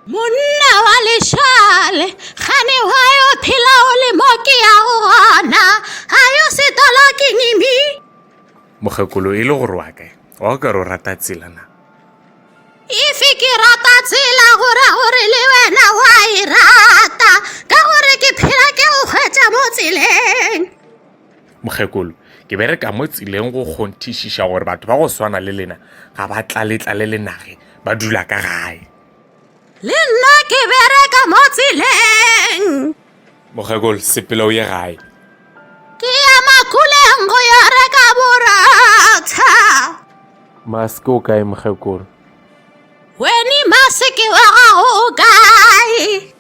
monna wa lešale gane wa yo phela o le mo ke ya go gona a yo setola ke nimi mokgekolo e le gore wa kae wa o ka re o rata tsela na efe ke rata tsela gore gore le wena wa e rata ka gore ke phela ke go kgwetsa mo tseleng Mokgekolo, Ke be re ka mo tseleng go kgonthišiša gore batho ba go swana le lena ga ba tlaletlale le nage ba dula ka gae. Le nna ke be re ka mo tseleng. Mokgekolo, Sepela o ye gae. Ke ya makuleng go yo reka boratha. Maske, O kae mokgekolo? Weni, Maske wa gago o kae?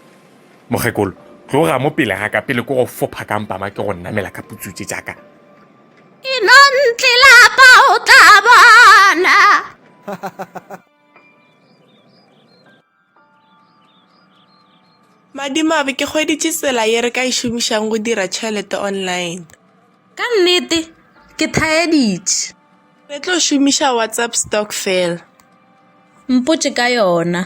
Mokgekolo, tloga mo pele ga ka pele ko go fopha ka mpama ke go namela ka putsutse jaaka. Inontle lapa o tla bona. Madimabe ke hweditše tsela ye re ka e šomišang go dira tšhelete online. Ka nnete ke thaeditše. Re tlo šomiša WhatsApp stock fela. Mpotše ka yona.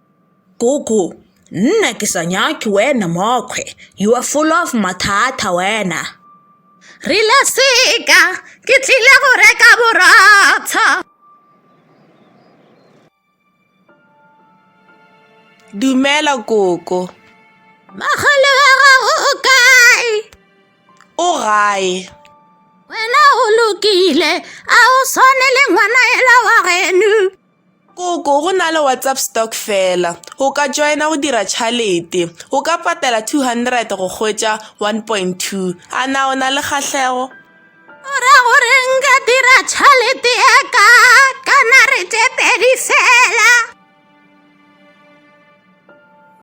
Gogo, Nna ke sa nyake wena mokgwe, you are full of mathata wena. Rile, Seka, ke tlile go reka borotho. Dumela koko. Mogolo wa gago o kae? O gae. Wena o lokile, a o swane le ngwana ela wa genu. Koko go na le WhatsApp stock fela. O ka joina go dira tšhalete. O ka patela 200 go hwetša 1.2. A na o na le kgahlego? O ra gore nka dira tšhalete ya ka ka nare tše pedi fela.